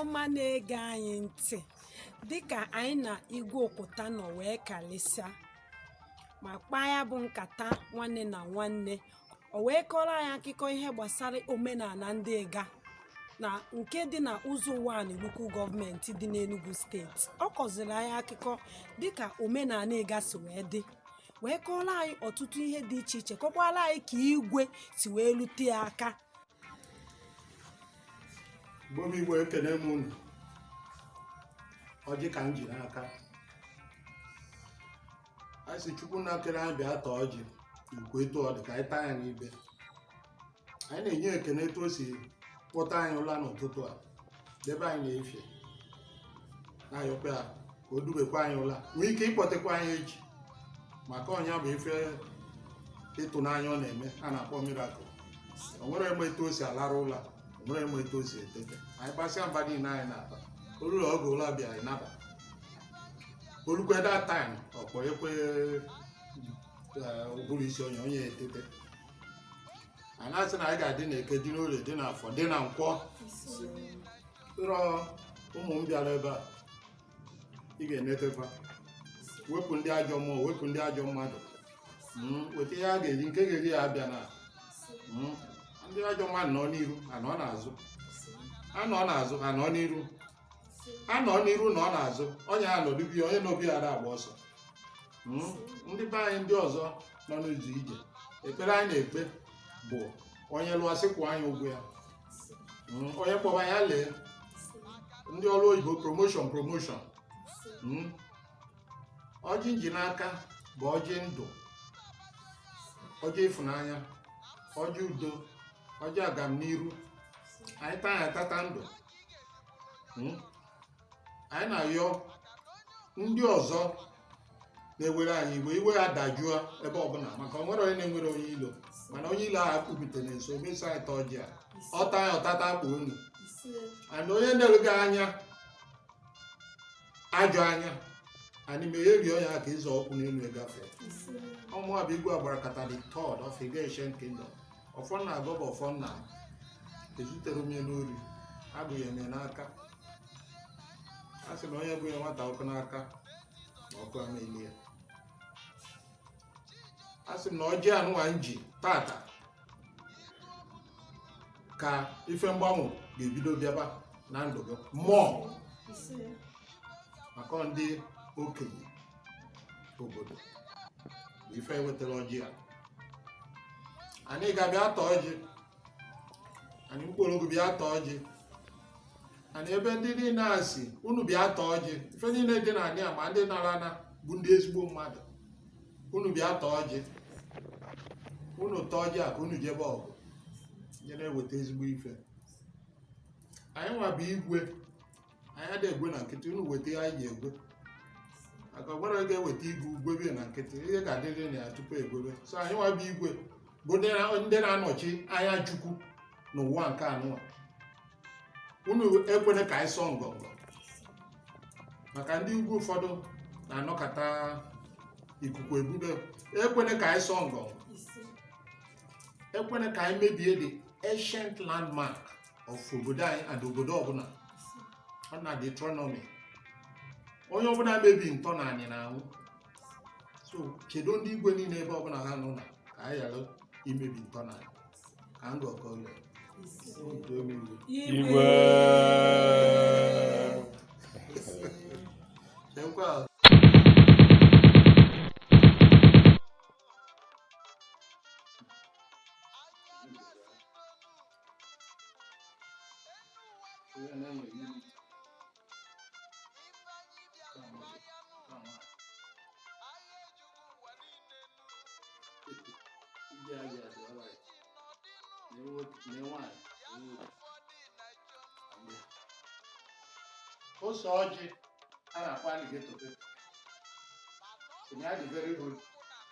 ọma na-ege anyị ntị dịka anyị na igwe ukuta nọ wee kalịsịa ma kpaa ya bụ nkata nwanne na nwanne o wee kọrọ anyị akụkọ ihe gbasara omenala ndị igga na nke dị na uzo uwani local government dị n'Enugu steeti ọ kọziri anyị akụkọ dịka omenala igga si wee dị wee kọrọ anyị ọtụtụ ihe dị iche iche kọkwara anyị ka igwe si wee rute ya aka mgbe igwe ekene m unu ọjị ka m ji n'aka anyị sị chukwu nna kere anyị bịa taa ọjị ukwu etu ọ dị ka anyị taa ya n'ibe anyị na-enye ekene etu o si kpọta anyị ụla n'ụtụtụ a debe anyị n'efifie na-ayọkwa ya ka o dubekwa anyị ụla nwee ike ịkpọtekwa anyị echi maka ọ nya bụ ife ịtụnanya ọ na-eme a na-akpọ miracle o nwerọ onye ma etu o si alarụ ụla o nwerọ onye ma etu o si etete anyị gbasịa mbọ niile anyị na-agba o lue oge ụla bịa anyị naba o lukwe that time ọ kpọọ ekwe ụbụrụ isi onye onye etete a na-asị na anyị ga-adị na eke dị n'orie dị n'afọ dị na nkwọ so ụmụ m bịara ebe a ị ga-enetekwa wepụ ndị ajọ mmụọ wepụ ndị ajọ mmadụ Mm, weta ihe ha ga-eri nke ga-eri ha abịana Mm, ndị ajọ mmadụ nọ n'iru ha nọ n'azụ ha nọ n'azụ ha nọ n'iru a nọ n'iru nọ n'azụ onye a nọdubi onye n'obi ya na-agba ọsọ Mm, ndị be anyị ndị ọzọ nọ n'ụzọ ije ekpere anyị na-ekpe bụ onye lụọ sị kwụọ nya ụgwọ ya Mm, onye kpọba ya lee ndị ọrụ oyibo promotion promotion Mm. ọjị m ji n'aka bụ ọjị ndụ ọjị ịfụnanya ọjị udo ọjị agamniru anyị taa ya tata ndụ Hmm? anyị na-ayọ ndị ọzọ na-ewere anyị iwe iwe ha dajụọ ebe ọbụla maka o nwerọ onye na-enwerọ onye ilo mana onye ilo ahụ akpụbite na nso mesa anyị taa ọjị a ọ taa ya ọ tata akpa ọnụ and onye na-ele gị anya ajọ anya anyị ma erio ya ka ịzọ ụkwụ n'elu egafe ọ mụa bụ igwe agbarakata the third of igga ancient kingdom ọfọ m na-agọ bụ ọfọ nna ezuterọ m ya n'ori e bunyere m ya n'aka a sị na onye bunye nwata ọkụ n'aka na ọkụ ama eli ya asị m na ọjị anụwa m ji tata ka ife mgbanwe ga-ebido bịaba na ndụ gị mmụọ maka ọ ndị okenye obodo bụ ife e wetara ọjị a anyị ga-abịa ata ọjị anị nkpologu bịa taa ọjị ana ebe ndị niile a si unu bịa taa ọjị ife niile dị na anị a ma ndị nara ana bụ ndị ezigbo mmadụ unu bịa taa ọjị unu taa ọjị a ka unu jebe ọgụ je na-eweta ezigbo ife anyị nwa bụ igwe anyị adị egwe na nkịtị unu weta ihe anyị ga-egwe maka gwara gị eweta igwe o gwebe na nkịtị ihe ga-adịrị na ya tupu e gwebe so anyị nwa bụ igwe bụ ndị na- ndị na-anọchi anya chukwu n'ụwa nke anụwa unu ekwene ka anyị sọọ ngọngọ maka ndị igwe ụfọdụ na-anọkata ikuku ebube ekwene ka anyị sọọ ngọngọ ekwene ka anyị mebie the ancient landmark of obodo anyị and obodo ọbụla ọ na deuteronomy onye ọbụla mebi ntọ na anị na-anwụ so kedu ndị igwe niile ebe ọbụla ha nọ na ka anyị ghara imebi ntọ na anị ka m gọkọlọ otu ebe igwe Igwe. Ekwe a. ose ọjị a na-akpọ alligator pepper. Ọ na-adị very hot.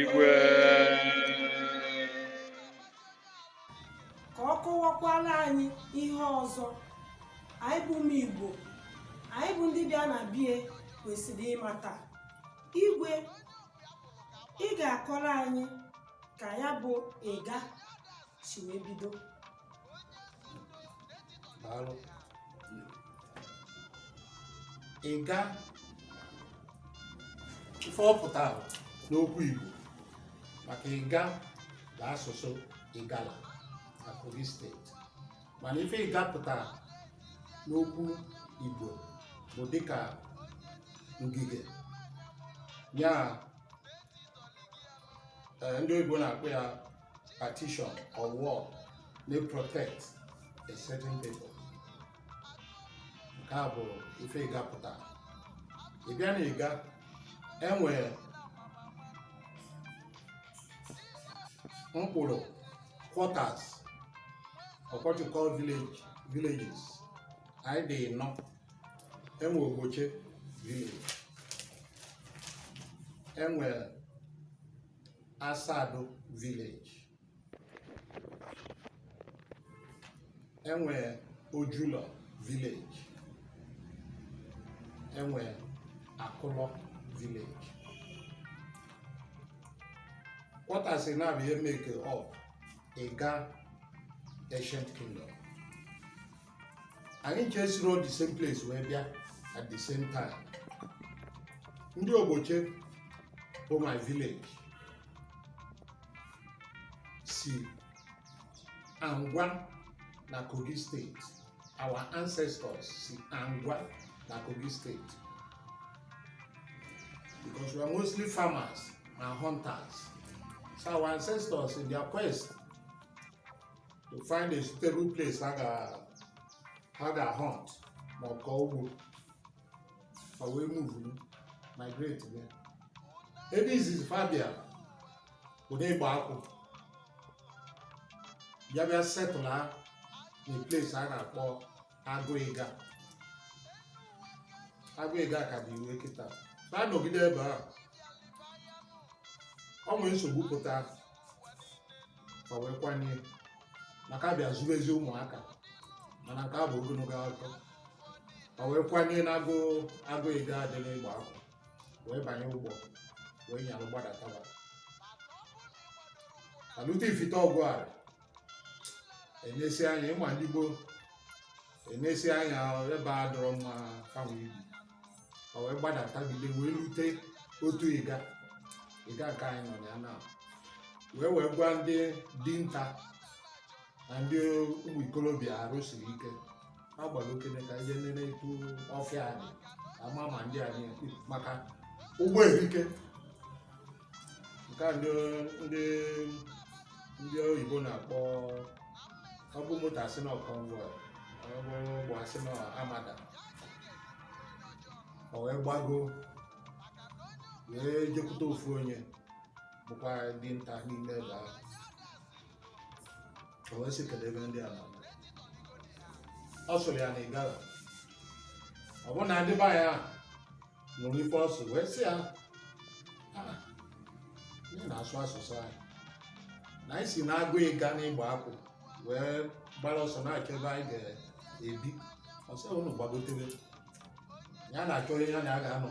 igwe ka ọ kọwakwara anyị ihe ọzọ anyị bụ ụmụ igbo anyị bụ ndị bịa na bie kwesịrị ịmata igwe ị ga-akọrọ anyị ka ya bụ ịga si wee bido daalụ ịga ife ọ pụtara n'okwu igbo maka ịga bụ asụsụ igala na kogi state mana ife ịga pụtara n'okwu igbo bụ dịka ngige ya eh, ndị oyibo na-akpọ ya partition or wall na-protect a certain people nke a bụ ife ịga pụtara ị bịa na ịga enwere mkpụrụ quarters or what you call village villages anyị dị ịnọ enwe ogboche village enwe Asado village e nwee Ojulọ village e nwee Akụlọ village quarters na bụ ihe make up Ịga ancient kingdom anyị ncha esirọ the same place wee bịa at the same time ndị Ogboche bụ my village si Angwa na Kogi State our ancestors si Angwa na Kogi State because we are mostly farmers and hunters so our ancestors in their quest to find a suitable place ha ga hunt ma kọọ ugbo fa wee move migrate bịa ebe izizi fa bịa bụ n'Igbakwu bịa bịa settle na place a na-akpọ Agụ Ịga Agụ Ịga ka dị iwe kịta fa anọgide ebe ahụ o nwee nsogbu pụta fa wee kwanie maka a bịa zuru ezi ụmụaka mana nke a bụ ogologo akụkọ fa wee kwanie na Agụ Ịga dị na Igbakwu wee banye ụgbọ wee nyalụ gbadataba eluta Ifite Ogwari e nesịa anya ị ma ndị gboo e nesịa anya ebe a adịrọ mma fanwa ibi fa wee gbadata gide wee lute Otu Ịga Ịga nke anyị nọ na ya na wee wee gwa ndị dinta na ndị ụmụ ikolobịa arụ siri ike ha gbara okene ka e je nene etu ọfịa anyị ama ma ndị anyị maka ụgbọ erika nke a ndị ndị ndị oyibo na-akpọ ọ bụ moto a sị na ọ convoy ọ bụ ụgbọ a sị na armada o wee gbago wee jekwute ofu onye bụkwa dinta n'ime ebe ahụ o wee sị kedu ebe ndị a nọ ọ sụrụ ya na Igala ọ bụ na ndị be anyị ahụ nụrụ ife ọ sụ wee sị ya "Ah, ị na-asụ asụsụ anyị na anyị si n'Agụ Ịga n'Igbakwu wee gbara ọsọ na-achọ ebe anyị ga-ebi ọ sị unu gbagotebe ya na-achọ onye ya na ya ga-anọ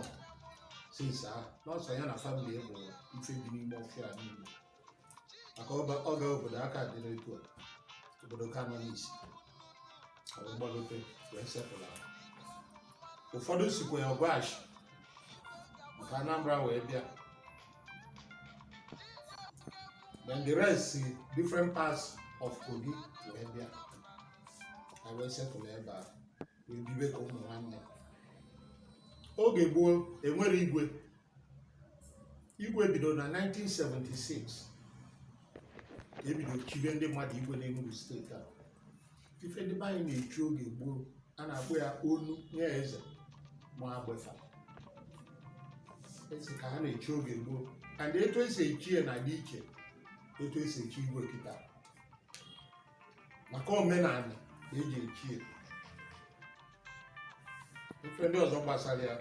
since ahụ na ọ sọ ya na family bụ ife bi n'ime ọfịa niile maka ọba- ọ ga obodo aka dịrị etu a obodo ka nọ n'isi ọ wee gbalote wee settle ụfọdụ sikwa ya ọgwash maka anambra wee bịa then the rest si different parts of kogi wee bịa ha wee settle ebe a wee bibe ka ụmụ nwanne oge gboo enwerọ igwe igwe bidoro na 1976 ebido chibe ndị mmadụ igwe n'Enugu steeti a ife ndị be anyị na-echi oge gboo a na-akpọ ya onu nye eze ma agbefa esi ka ha na-echi oge gboo and etu esi echi ya na dị iche etu esi echi igwe kịta maka omenala eji echi ya ife ndị ọzọ gbasara ya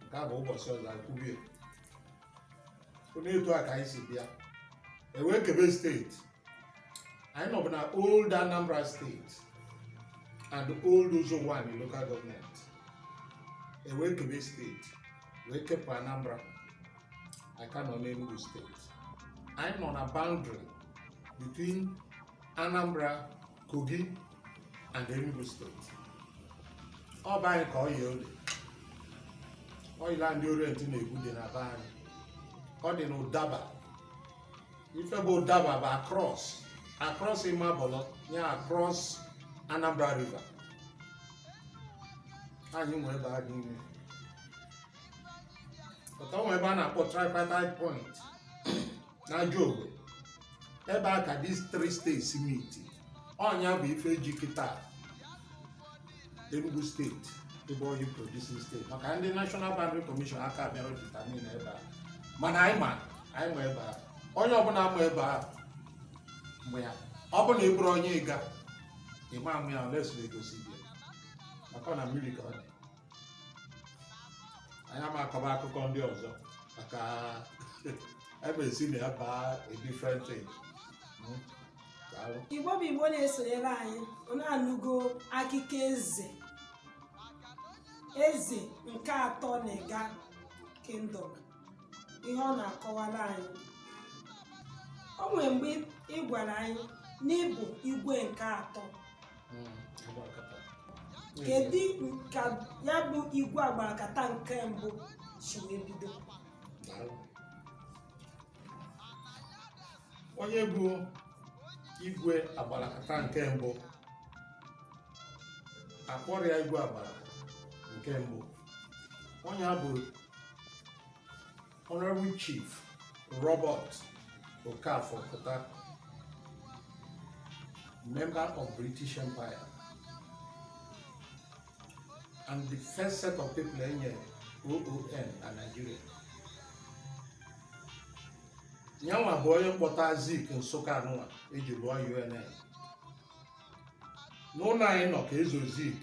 nke a bụ ụbọchị ọzọ akwubie onye etu a ka anyị si bịa ewee kebe steeti anyị nọbụ na old anambra steeti and old Uzo-Uwani local government ewee kebe steeti wee kepụ Anambra anyị ka nọ n'Enugu steeti anyị nọ na boundary between Anambra Kogi and Enugu steeti ọ bụ anyị ka oil well oil a ndị orient na-egwu dị na be anyị ọ dị na ụdaba ife bụ ụdaba bụ across across imabolo ya across anambra river anyị nwe ebe a dị ime but o nwe ebe a na-akpọ tripartite point na ajogwu ebe a ka these three states meet ọnya bụ ife ji kịta enugu steeti ịbụ oil producing state maka ndị national boundary commission aka bịarọ determine ebe a mana anyị ma anyị ma ebe a onye ọbụla ma ebe a mgbe ya ọ bụ na ị bụrụ onye ịga ịma ama ya unless egosi gị maka na mmiri ka ọ dị anyị ama akọba akụkọ ndị ọzọ maka ebe esi na ya baa a different thing Mm. Daalụ. igbo bụ igbo na-esonyere anyị unu anụgo akụkọ eze eze nke atọ na ịga kingdom ihe ọ na-akọwara anyị o nwere mgbe ị gwara anyị na ị bụ igwe nke atọ hmm, kedu ka ya bụ igwe agbarakata nke mbụ si wee bido onye bụ igwe agbarakata nke mbụ akpọrọ ya igwe agbara nke mbụ onye a bụ Honorable Chief Robert Okafor Ukuta, member of British Empire, and the first set of people enyere OON na Nigeria. Nyanwa bụ onye mkpọta Zik Nsụka anụwa eji lụọ UNN. N'ụlọ anyị nọ ka ezo Zik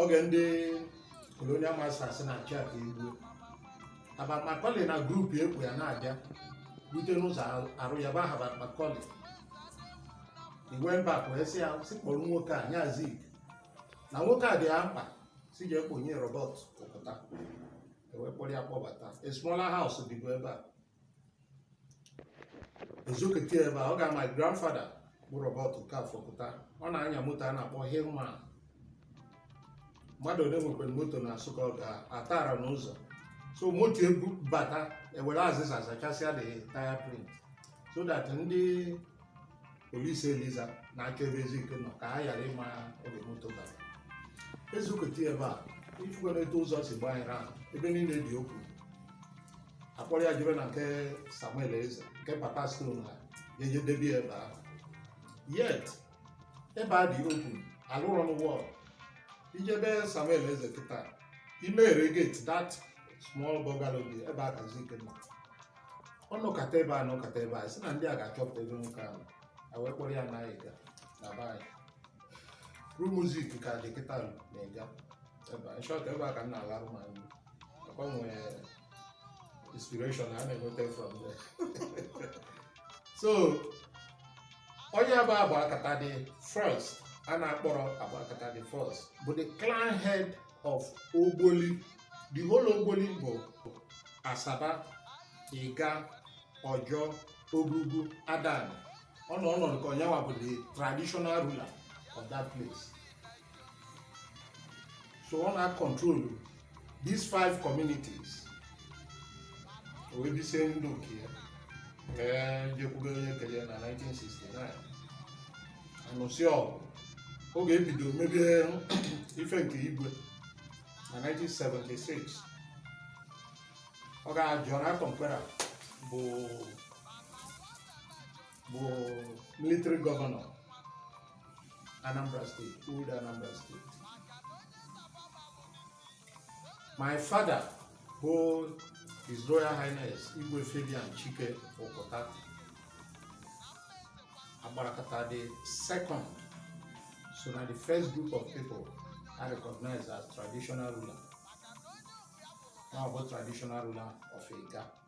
oge ndị colonial masters na-achụ ya ka e gbue Herbert Macaulay na group eku ya na-abịa rute n'ụzọ arụ yaba Herbert Macaulay Igwe Mbakwe wee sị ya si kpọrọ nwoke a nye Zik na nwoke a dị ya mkpa si jee kponye Robert Ukuta ewee kpọrọ ya kpọbata a smaller house dịbu ebe a ezokete ebe a ọ ga my grandfather bụ Robert Okafor Ukuta ọ na-anya moto a na-akpọ Hillman mmadụ ole nwekwara moto na Nsụka ọ ga-atara n'ụzọ so moto ebu bata ewere azịza zachasịa the tire print so that ndị polisi Eliza na-achọ ebe Zik nọ ka ha ghara ịma oge moto bara ezokete ebe a ifugona etu ụzọ si gbaa anyị ahụ ebe niile dị open akpọrọ ya jebe na nke Samuel Eze nke Papa Stone ha ya eje debe ya ebe ahụ yet ebe a dị open alụrọ wall i je be Samuel Eze kịta i meghe gate that small bungalow dị ebe a ka Zik nọ ọ nọkata ebe a nọkata ebe a si na ndị a ga-achọpụta ebe nwoke ahụ a wee kpọrọ ya naa Igga na be anyị room Zik ka dị kịta na Igga ebe a in short ebe a ka m na-alarụ ma nri inspiration a na-enweta from there so onye bụ Agbakata the first a na-akpọrọ Agbakata the first bụ the clan head of Ogboli the whole Ogboli bụ Asaba Igga Ojjor Ogurugu Adani ọ nọ ọnọdụ ka onye bụ the traditional ruler of that place so ọ na-acontrol these five communities o wee bisie ndụ nke ya ee jekwube onye kere na 1969 anụsị ọgụ oge ebido mebe ife nke igwe na 1976 ọga John akọmpera bụ bụ military gọvanọ Anambra steeti old Anambra steeti my father bụ His Royal Highness Igwe Fabian Chike Okwuta agbarakọta the second so na the first group of people are recognized as traditional ruler. Now about traditional ruler of Ega.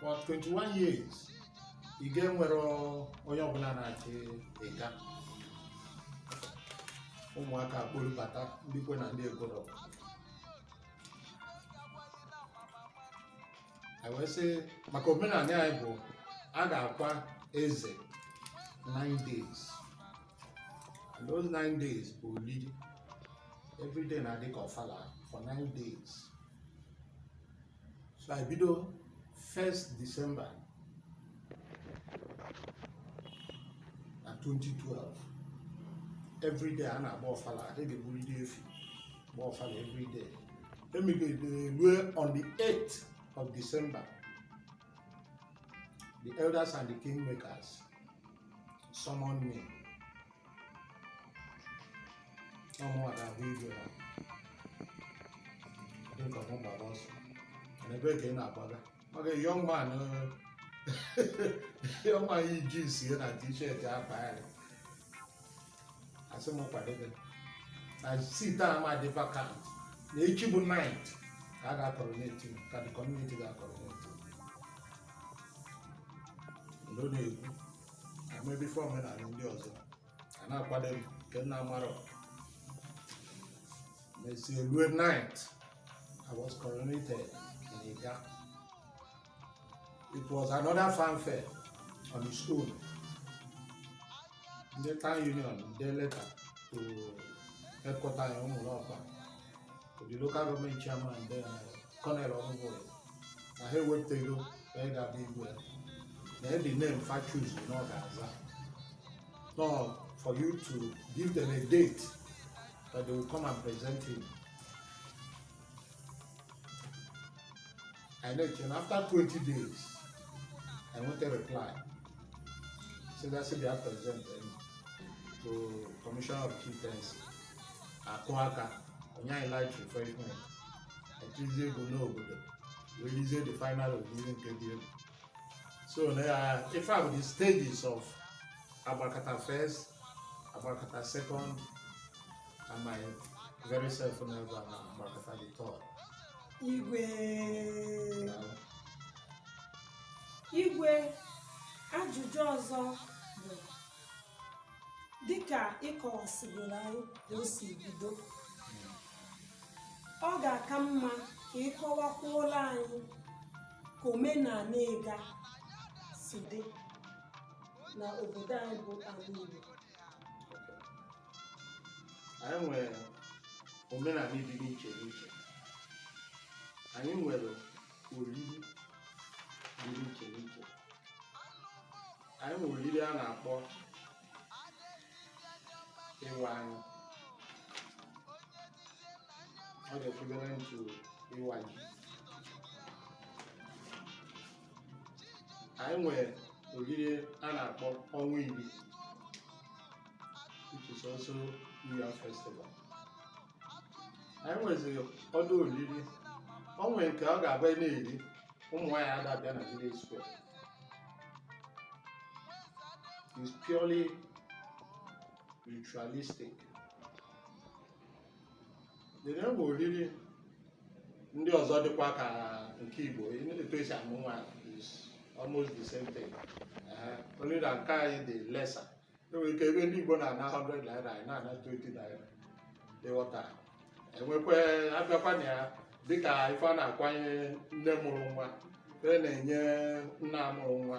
for 21 years Igga enwero onye ọbụla na-achị Igga ụmụaka kpolubata ndị kwe na ndị ekwero anyị wee sị maka omenala anyị bụ a ga-akwa eze 9 days and those 9 days bụ olili every day na-adị ka ọfala for 9 days so anyị bido 1st December na 2012 everyday a na-agba ọfala a ga-egburu ndị efi gba ọfala everyday e megide rue on the 8th of December the elders and the kingmakers summoned me ọ mụwa ga-abụ igwe ha dịka mụ gbara ọsọ na ebe ka ị na-agbaga maka young man young man yi jeans ya na t-shirt akpa ya asị m kwadebe na seat a ma dị vacant na echi bụ 9th ka a ga-coronate m ka the community ga-coronate m ndo na-ekwu emebe ife omenala ndị ọzọ a na-akwado m nke m na-amaro mesie rue 9th I was coronated in Igga. It was another fanfare on its own. Ndị town union dee leta to headquarters in Umulokpa the local government chairman then Cornel Onwubuya na ha ewepụtago onye ga-abụ igwe ya na the name fa choose na ọ ga-aza no for you to give them a date that they will come and present him anyị na-eche na after 20 days anyị nweta reply si na si bịa present anyị to commissioner of chieftaincy akụọ aka o nye anyị light refreshment etizie egwu n'obodo wee lizie the final oriri nke dị egwu so na ya ife a bụ the stages of agbakata first agbakata second and my very self na ebe a na agbakata the third igwe ajụjụ ọzọ bụ dịka ị kọwasịrị anyị ka o si bido ọ ga-aka mma ka ị kọwakwuola anyị ka omenala Igga si dị na obodo anyị bụ ala Igbo anyị nwere omenala dị n'iche n'iche anyị nwere oriri dị n'iche n'iche anyị nwere oriri a na-akpọ ịwa anyị ọ dị equivalent to ịwa ji anyị nwere oriri a na-akpọ ọnwa iri which is also New Year Festival. anyị nweziri ọdụ oriri o nwere nke ọ ga-abụ a na-eri ụmụ nwaanyị ada abịa na village square it's purely ritualistic Then enwee oriri ndị ọzọ dịkwa ka nke Igbo etu esi amụ nwa is almost the same thing only na nke anyị dị lesser enwere ike ebe ndị Igbo na-ana 100 naira anyị na-ana 20 naira ị ghọta enwekwa abịakwa na ya dịka ife a na-akwanye nne mụrụ nwa e na-enye nna mụrụ nwa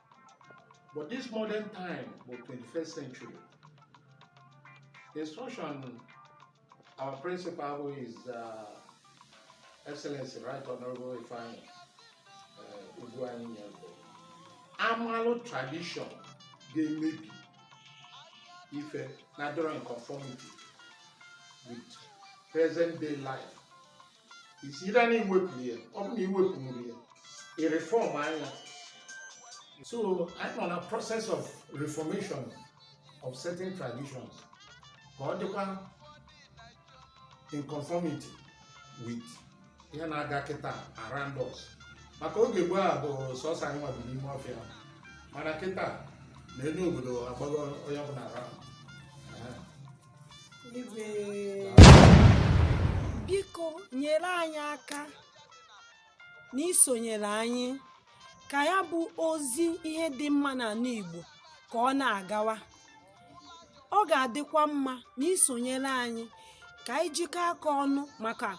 But this modern time bụ 21st century. Instruction our principal bụ His Excellency Right Honorable Ifeanyi uh, Ugwuanyi nye bụ a malụ tradition ga-emebi ife na-adọrọ in conformity with present day life is either na iwepụ ya ọ bụ na iwepụrọ ya ị reform ya so anyị nọ na process of reformation of certain traditions ka ọ dịkwa in conformity with ihe na-aga kịta around us maka oge gboo ọ bụ sọsọ anyị nwa bi n'ime ọfịa mana kịta na enu obodo agbago onye ọbụla around biko nyere anyị aka na isonyere anyị ka ya bụ ozi ihe dị mma n'ala Igbo ka ọ na-agawa ọ ga-adịkwa mma na isonyere anyị ka anyị jikọ aka ọnụ maka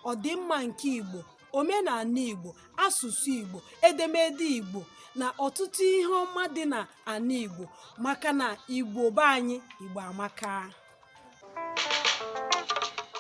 ọdịmma nke Igbo omenala Igbo asụsụ Igbo edemede Igbo na ọtụtụ ihe ọma dị na ana Igbo maka na Igbo be anyị Igbo amaka